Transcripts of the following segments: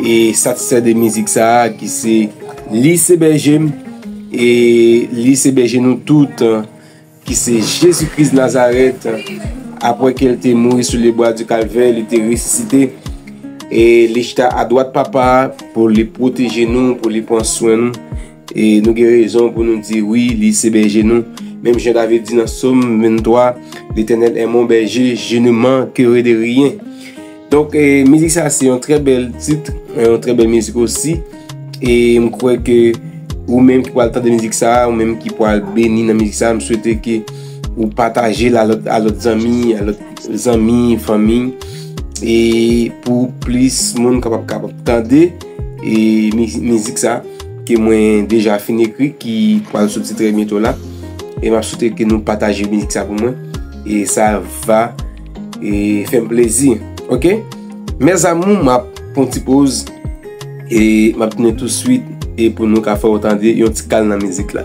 E satisfè de mizik sa a ki se Li se bèje m e Li se bèje nou tout ki se Jezi Kris Nazarèt apre ke l te mouri sou lebwa di Kalvè li te resisite e li chita adwat Papa a pou li pwoteje nou, pou li pran swen nou. E nou gen rezon pou nou di, Wi, li se bèje nou. Menm jan David di nan Som 23, Letènèl è mon bèje, je ne mankere de ryen. Donk, mizik sa se yon trè bèl tit, yon trè bèl mizik osi. E m kwè ke ou menm ki pwal tande mizik sa, ou menm ki pwal beni nan mizik sa, m swete ke ou pataje l a lòt zanmi, a lòt zanmi, fanmi. E pou plis moun kapab tande. E mizik sa ke mwen deja fin ekri ki pral soti trè byento la. E map sote ke nou pataje mizik sa pou mwen. E sa va e fèm plezi. Ok? Mè zamou map pon ti poz. E map tounen tou swit. E pou nou ka fè ou tande yon ti kal nan mizik la.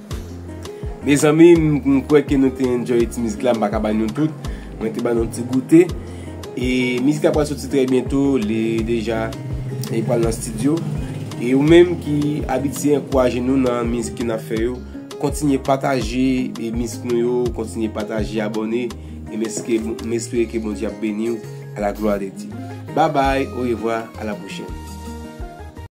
Mezanmi m kwè ke nou te enjoy ti mizik la m pa ka ba nou tout mwen te ba nou ti goute e mizik la pral soti trè byento li deja e pral nan studio e ou menm ki abitye ankouraje nou nan mizik ke nap fè yo kontinye pataje e mizik nou yo kontinye pataje abòne e m eske m espere ke Bondye ap beniw a la glwa de Dye babay orevwa a la pwochèn.